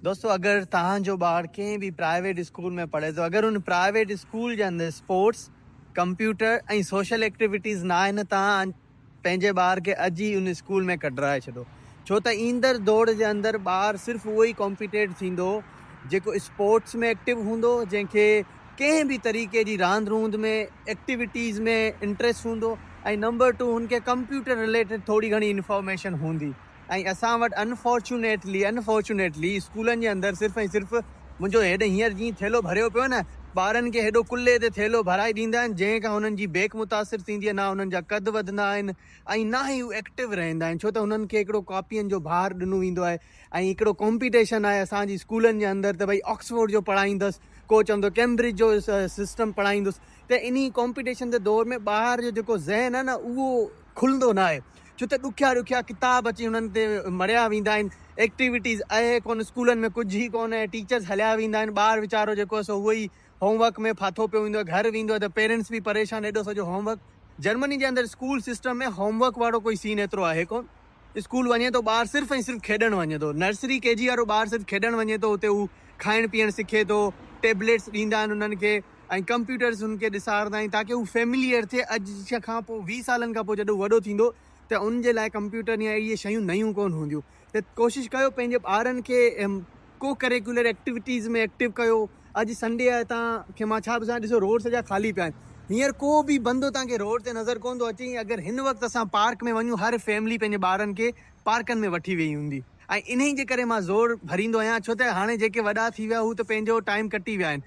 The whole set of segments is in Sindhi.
دوستو اگر توهان جو ٻار ڪنهن به پرائيويٽ اسڪول ۾ پڙهي ٿو اگر ان پرائيويٽ اسڪول جي اندر اسپورٽس ڪمپيوٽر ۽ سوشل ايڪٽيويٽيز نه آهن توهان پنهنجي ٻار کي اڄ ئي ان اسڪول ۾ ڪڍرائي ڇڏو ڇو ته ايندڙ دور جي اندر ٻار صرف اهو ئي ڪمپيٽيٽ ٿيندو جيڪو اسپورٽس ۾ ايڪٽيو هوندو جنهن کي ڪنهن به طريقي جي راند روند ۾ ايڪٽيويٽيز ۾ انٽريسٽ هوندو ۽ نمبر ٽو هن کي ڪمپيوٽر رليٽيڊ ٿوري گهڻي انفارميشن هوندي ۽ اسان وٽ انفارچونيٽلي Unfortunately اسڪولن جي اندر صرف ۽ صرف منهنجو هيڏ هينئر جيئن ٿيلهو ڀريو پيو نه ٻارن کي هيڏو ڪلهي تي ٿيلهو ڀرائي ڏيندا آهن جنهن کان هنن جي بيڪ متاثر ٿيندي آهي نه هنن جا قد وڌندا آهن ۽ نه ئي هو ايڪٽو رهندا آهن ڇو ته هنن کي هڪڙو ڪاپين جو بار ڏنو ويندو آهي ۽ هڪڙو ڪامپيٽيشن آهي اسان جي اسڪولن جي اندر ته ڀئي آڪسفورڊ جو پڙهائيندس ڪو چوندو ڪيمبرج جو سسٽم پڙهائيندس ته انهي ڪامپيٽيشن جي دور ۾ ٻار جو جيڪو ذهن آهي نه اهو کلندو نه آهي ڇو ته ڏکيا ڏکيا ڪتاب اچي هنن تي مڙهيا ويندا آهن ايڪٽيوٽيز اهي ڪونه اسڪولن ۾ ڪجهه ئي ڪونه اهي ٽيچرز هليا ويندا آهن ٻار ويچارو جيڪو سو اهو ئي هوم ورڪ ۾ ڦاٿو پيو هوندو آهي گهر ويندو آهي ته پيرنٽس به پريشان ايڏو سڄو هوم ورڪ جرمني جي اندر اسڪول سسٽم ۾ هوم ورڪ وارو ڪوئي سين ايترو آهي ڪونه. اسڪول وڃي ٿو ٻار صرف ۽ صرف کيڏڻ وڃي ٿو نرسري ڪي جي وارو ٻار صرف کيڏڻ وڃي ٿو اتي هو کائڻ پيئڻ سکي ٿو ٽيبليٽس ڏيندا آهن انهن کي ۽ ڪمپيوٽرس هن کي ڏسارندا آهن تاڪي هو فيمليئر ٿئي اڄ کان پوء ويهه سالن کان پوء جڏهن هو وڏو ٿيندو ته ان جي لاء ڪمپيوٽر يا اهڙي شيون نيون ڪونه هونديون ته ڪوشش ڪيو پنهنجي ٻارن کي ڪو ڪريڪيولر ايڪٽيوٽيز ۾ ايڪٽو ڪيو اڄ سنڊي آهي تان کي مان ڇا پڇان ڏسو روڊ سڄا خالي پيا آهن هينئر ڪو به بندو تان کي روڊ تي نظر ڪونه ٿو اچي ۽ اگر هن وقت اسان پارڪ ۾ وڃون هر فيملي پنهنجي ٻارن کي پارڪن ۾ وٺي ويئي هوندي ۽ انهي جي ڪري مان زور ڀريندو آهيان ڇو ته هاڻي جيڪي وڏا ٿي ويا هو ته پنهنجو ٽائيم ڪٽي ويا آهن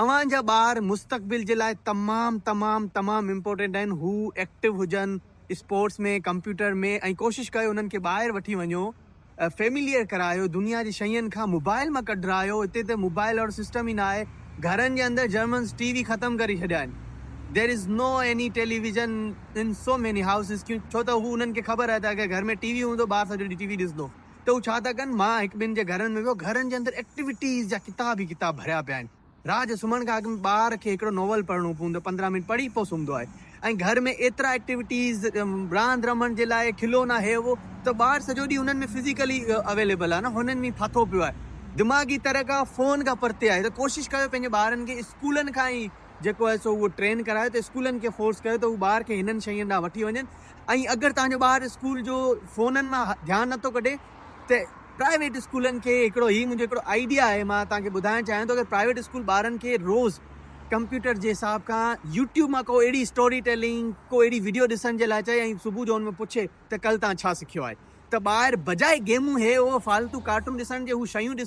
اوهان جا ٻار مستقبل جي لاء تمام تمام تمام امپورٽينٽ آهن هو ايڪٽو هجن اسپورٽس ۾ ڪمپيوٽر ۾ ۽ ڪوشش ڪيو انهن کي ٻاهر وٺي وڃو. فيمليئر ڪرايو دنيا جي شين کان موبائل مان ڪڍرايو اتي ته موبائل اھڙو سسٽم ئي ناھي گھرن جي اندر جرمنز ٽي وي ختم ڪري ڇڏيا آھن there is no any television in so many houses ڪيون ڇو ته ھو انھن کي خبر آھي ته اگر گھر ۾ ٽي وي ھوندو ٻار سڄو ڏينھن ٽي وي ڏسندو ته ھو ڇا ٿا ڪن مان ھڪ ٻن جي گھرن ۾ ويو گھرن جي اندر ايڪٽيويٽيز جا ڪتاب ئي ڪتاب ڀريا پيا آھن. رات جو سمهڻ کان اڳ ۾ ٻار کي هڪڙو ناول پڙهڻو پوندو پندرهن منٽ پڙهي پوء سمهندو آهي ۽ گهر ۾ ايترا ايڪٽيوٽيز راند رمڻ جي لاء کلونا هي هو ته ٻار سڄو ڏينهن انهن ۾ فزيڪلي اويليبل آهي نه هنن ۾ ڦاٿو پيو آهي دماغي طرح کان فون کان پرتي آهي ته ڪوشش ڪيو پنهنجي ٻارن کي اسڪولن کان ئي جيڪو آهي سو اهو ٽرين ڪرايو ته اسڪولن کي فورس ڪيو ته هو ٻار کي هنن شين ڏانهن وٺي وڃن ۽ اگر توهان جو ٻار اسڪول جو فونن مان ڌيان نٿو ڪڍي تي پرائيويٽ اسڪولن کي هڪڙو هي منهنجو هڪڙو آئيڊيا آهي مان توهان کي ٻڌائڻ چاهيان ٿو اگر پرائيويٽ اسڪول ٻارن کي روز ڪمپيوٽر جي حساب کان يوٽيوب مان ڪو اهڙي اسٽوري ٽيلنگ ڪو اهڙي وڊيو ڏسڻ جي لاء چئي ۽ صبح جو ان ۾ پڇي ته ڪل تان ڇا سکيو آهي ته ٻار بجاء گيمون هي هو فالتو ڪارٽون ڏسڻ جي هو شيون ڏسن